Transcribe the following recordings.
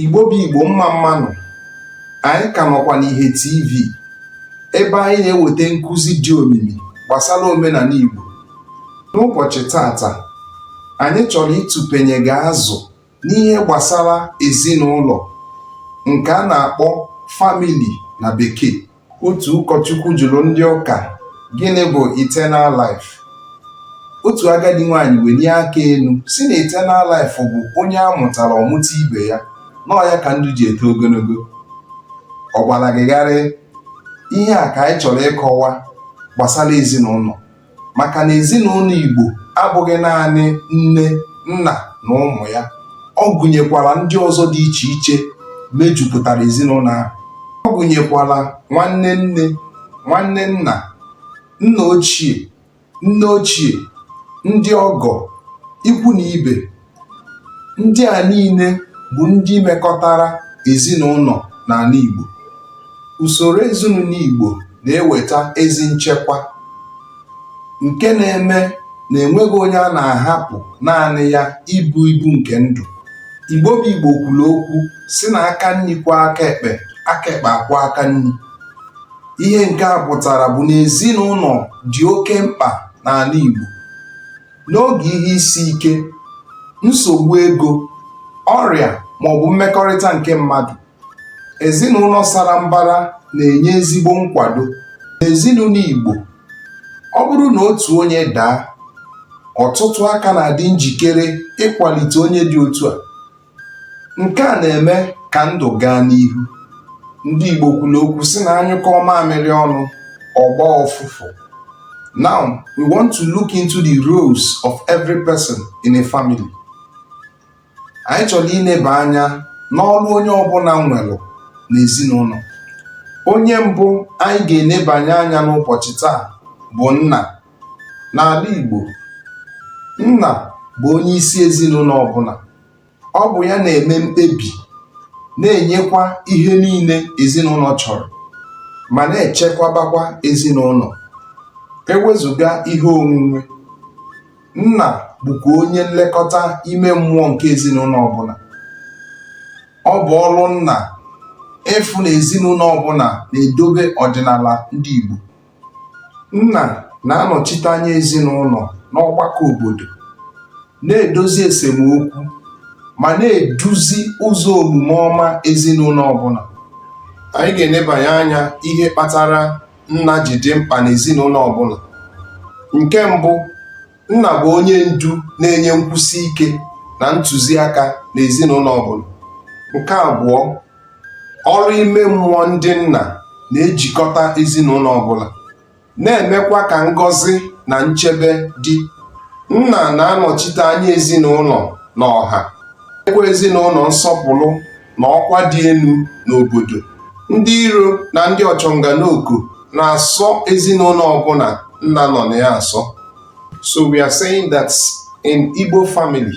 Igbo bụ Igbo mma mma nụ anyị ka nọkwa n'Ihe TV ebe anyị na-eweta nkụzi dị omimi gbasara omenala Igbo n'ụbọchị tata anyị chọrọ ịtụpenye gị azụ n'ihe gbasara ezinụlọ nke a na-akpọ family na bekee Otu ụkọchukwu jụrụ ndị ụka gịnị bụ eternal life. Otu agadi nwaanyị welie aka elu sị na eternal life bụ onye a mụtara ọ mụta ibe ya na ọ ya ka ndụ ji eto ogologo. Ọ gbara gị gharịị? Ihe a ka anyị chọrọ ịkọwa gbasara ezinụlọ. maka na ezinụlọ Igbo abụghị naanị nne nna na ụmụ ya ọ gụnyekwara ndị ọzọ dị iche iche mejupụtara ezinụlọ ahụ ọ gụnyekwara nwanne nne nwanne nna nna ochie nne ochie ndị ọgọ ikwu na ibe ndị à niine bụ̀ ndị mekọtara èzinụnọ̀ n'àla ìgbò ùsòrò èzinụnọ̀ ìgbò nà-ewèta ezi nchekwa ǹke na-eme nà ènweghị onye a nà-àhapụ̀ naanị ya ibu ibu ǹkè ndụ̀ ìgbo bụ ìgbò kwùlù okwu sị nà aka nni kwọọ aka èkpè aka èkpè àkwọọ aka nni ihe ǹke à pụ̀tàrà bụ̀ nà èzinụnọ̀ dị̀ oke mkpà n'àla ìgbò N'oge ihe isi ike, nsogbu ego, ọrịa ma ọ bụ mmekọrịta nke mmadụ, ezinụlọ sara mbara na-enye ezigbo nkwado. N'ezinụlọ Igbo, ọ bụrụ na otu onye daa, ọtụtụ aka na-adị njikere ịkwalite onye dị otu a. nke a na-eme ka ndụ gaa n'ihu ndị Igbo kwuru okwu sị na a nyụkọọ mamịrị ọnụ ọ gbaa ọfụfụ now we want to look into the roles of every person in a family anyị chọrọ ileba anya n'ọrụ onye ọbụla nwere n'ezinụlọ onye mbụ anyị ga-enebanye anya n'ụbọchị taa bụ nna N'ala Igbo, nna bụ onye isi ezinụlọ ọbụla. Ọ bụ ya na-eme mkpebi, na-enyekwa ihe niile ezinụlọ chọrọ ma na-echekwabakwa ezinụlọ. E wezụga ihe onwunwe, nna bụkwa onye nlekọta ime mmụọ nke ezinụlọ ọbụla. Ọ bụ ọrụ nna ịfụ na ezinụlọ ọbụla na-edobe ọdịnala ndị Igbo. Nna na-anọchite anya ezinụlọ n'ọgbakọ obodo, na-edozi esemokwu ma na-eduzi ụzọ omume ọma ezinụlọ ọbụla. Anyị ga-enebanye anya ihe kpatara nna ji dị mkpa n'ezinụlọ ọbụla. Nke mbụ, nna bụ onye ndu na-enye nkwụsi ike na ntụziaka n'ezinụlọ ọbụla. Nke abụọ, Ọrụ ime mmụọ ndị nna na-ejikọta ezinụlọ ọbụla, na-emekwa ka ngọzi na nchebe dị. Nna na-anọchite anya ezinụlọ na ọha, nyekwa ezinụlọ nsọpụrụ na ọkwa dị elu n'obodo. Ndị iro na ndị ọchọnganooko na-asọ ezinụlọ ọbụla nna nọ na ya asọ. So we are saying that in Igbo family,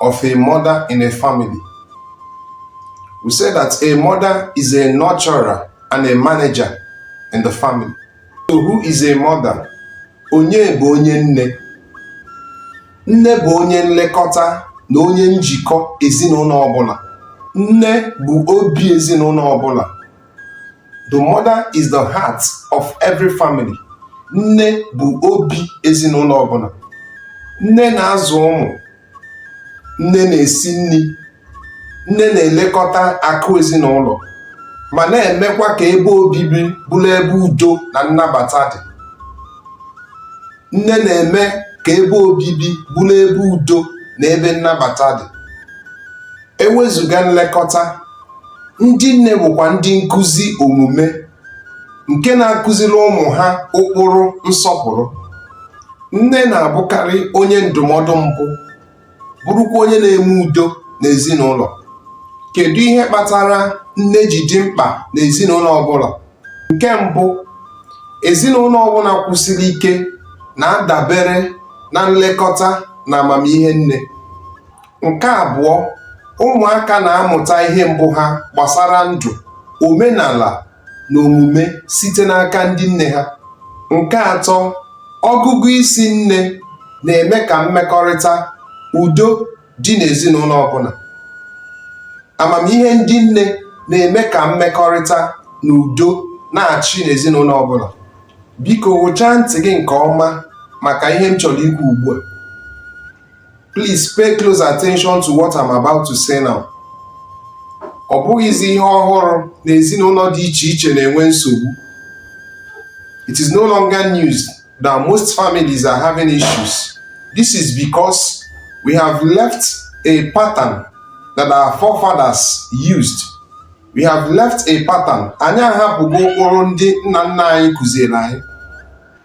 of a mother in a family. We say that a mother is a nurturer and a manager in the family. So who is a mother? Onye bụ onye nne. Nne bụ onye nlekọta na onye njikọ ezinụlọ ọbụla. Nne bụ obi ezinụlọ ọbụla. the mother is the heart of every family nne bụ obi ezinụlọ ọbụla nne na-azụ ụmụ nne na-esi nri nne na-elekọta akụ ezinụlọ ma na-emekwa ka ebe obibi bụrụ ebe udo na nnabata dị nne na-eme ka ebe obibi bụrụ ebe udo na ebe nnabata dị ewezuga nlekọta ndị nne bụkwa ndị nkụzi omume nke na-akụziri ụmụ ha ụkpụrụ nsọpụrụ nne na-abụkarị onye ndụmọdụ mbụ bụrụkwa onye na-eme udo n'ezinụlọ kedu ihe kpatara nne ji dị mkpa n'ezinụlọ ọbụla nke mbụ ezinụlọ ọbụla kwụsiri ike na-adabere na nlekọta na amamihe nne Nke abụọ, ụmụaka na-amụta ihe mbụ ha gbasara ndụ, omenala na omume site n'aka ndị nne ha. Nke atọ, ọgụgụ isi nne na-eme ka mmekọrịta udo dị n'ezinụlọ ọbụla. Amamihe ndị nne na-eme ka mmekọrịta na udo na-achị n'ezinụlọ ọbụla. Biko ghụchaa ntị gị nke ọma maka ihe m chọrọ ikwu ugbu a. Please pay close attention to what I'm about to say now. Ọ bụghịzi ihe ọhụrụ na ezinụlọ dị iche iche na-enwe nsogbu. It is no longer news that most families are having issues. This is because we have left a pattern that our forefathers used. We have left a pattern. Anyị ahapụgo ụkpụrụ ndị nna nna anyị kụziere anyị.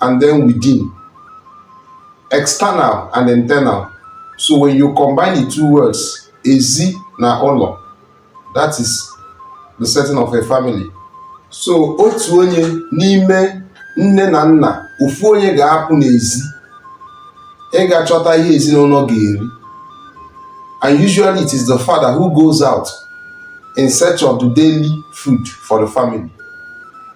and then within external and internal so when you combine the two words ezi na ụlọ that is the setting of a family so otu onye n'ime nne na nna ofu onye ga-apụ n'ezi ịga chọta ihe ezinụlọ ga-eri and usually it is the father who goes out in search of the daily food for the family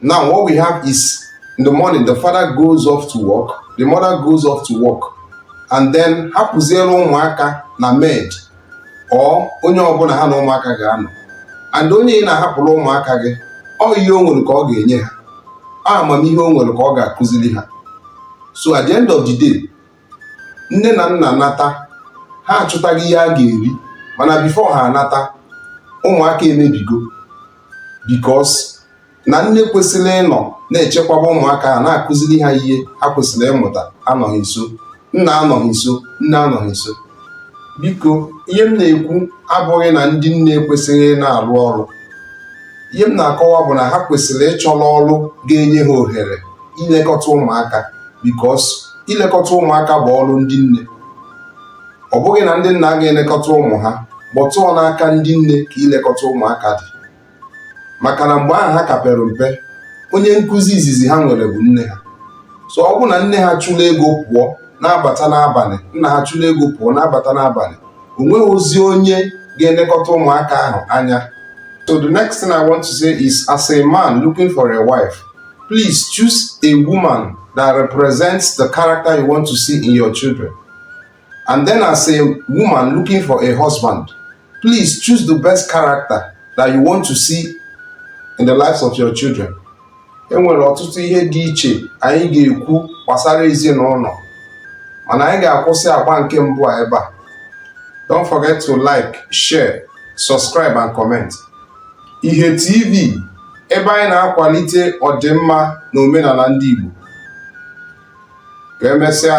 Now, what we have is in the morning, the father goes off to work, the mother goes off to work, and then hapụziere ụmụaka na maid or onye ọbụla ha na ụmụaka ga-anọ and onye ị na-ahapụrụ ụmụaka gị ọ ihe o nwere ka ọ ga-enye ha amamihe o nwere ka ọ ga-akụziri ha so at the end of the day nne na nna nata ha achụtaghị ihe a ga-eri mana before ha anata ụmụaka emebigo because na nne kwesịrị ịnọ na-echekwaba ụmụaka ha na-akụziri ha ihe ha kwesịrị ịmụta anọghị nso nna anọghị nso nne anọghị nso biko ihe m na-ekwu abụghị na ndị nne ekwesịghị ịna-arụ ọrụ ihe m na-akọwa bụ na ha kwesịrị ịchọrọ ọrụ ga-enye ha ohere ilekọta ụmụaka because ilekọta ụmụaka bụ ọrụ ndị nne ọ bụghị na ndị nna agaghị elekọta ụmụ ha but ọ n'aka ndị nne ka ilekọta ụmụaka dị maka na mgbe ahụ ha ka pere mpe onye nkụzi izizi ha nwere bụ nne ha so ọ bụ na nne ha chụla ego pụọ na-abata n'abalị nna ha chụla ego pụọ na-abata n'abalị o nweghịzi onye ga-elekọta ụmụaka ahụ anya so the next thing i want to say is as a man looking for a wife please choose a woman that represents the character you want to see in your children. And then, as a woman looking for a husband, please choose the best character that you want to see in the lives of your children. e nwere ọtụtụ ihe dị iche anyị ga-ekwu gbasara ezinụlọ mana anyị ga-akwụsị agba nke mbụ a ebe a don't forget to like share subscribe and comment Ihe TV ebe anyị na-akwalite ọdịmma na omenala ndị Igbo. Ka emesịa